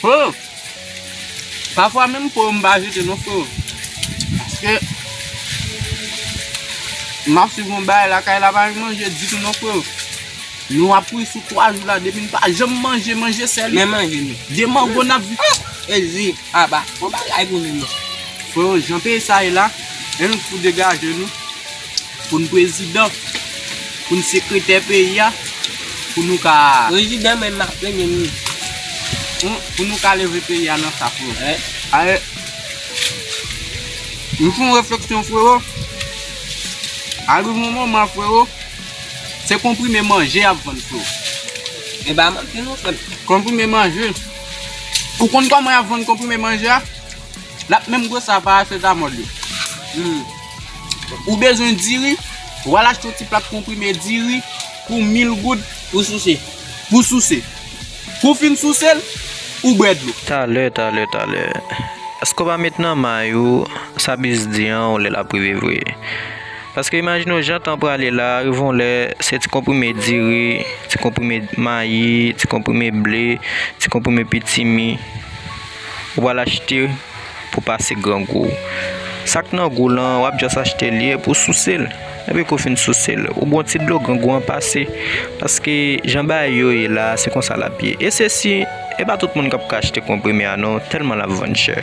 Freo, pafwa menm po yo m pa jete non freo, paske m ap swiv yon bagay lakay la pa gen manje ditou non freo, nou ap ri sou 3 jou la depi n pa janm manje, manje sèl, men manje nou, de mango n ap viv, e zi, aba, bon bagay pou nou menm, freo jan peyi sa ye la, en nou fou degaje nou. Pou n prezidan, pou n sekretè peyi a, pou nou ka. Prezidan menm ak premye minis. Pou nou ka leve peyi a nan sa freo. Ae m fon refleksyon freo, al rive yon moman freo, se konprime manje y ap vann freo. E pa manti non frem. Konprime manje. Ou konn koman y ap vann konprime manje a? L ap menm gwo sa parasetamol yo. Ou bezwen diri, ou al achte yon ti plak konprime diri pou 1000 goud. Pou souse. Pou souse. Kou w fin souse l, ou bwè dlo. Talè, talè, talè. Eske w pa met nan may ou sa bis di an yon lè l ap rive vre? Paske imajine w jan tan prale la, rive yon lè se ti konprime diri, ti konprime mayi, ti konprime ble, ti konprime pitimi ou pral achte. pou pase grangou w. Sa k nan gou w lan, w ap jis achte l ye pou w souse l. Epi kou w fin souse l, ou bon ti dlo, grangou an pase. Paske jan bagay yo ye la a, se konsa l ap ye. E se si, e pa tout moun k ap ka achte konprime a non, tèlman l ap vann chè.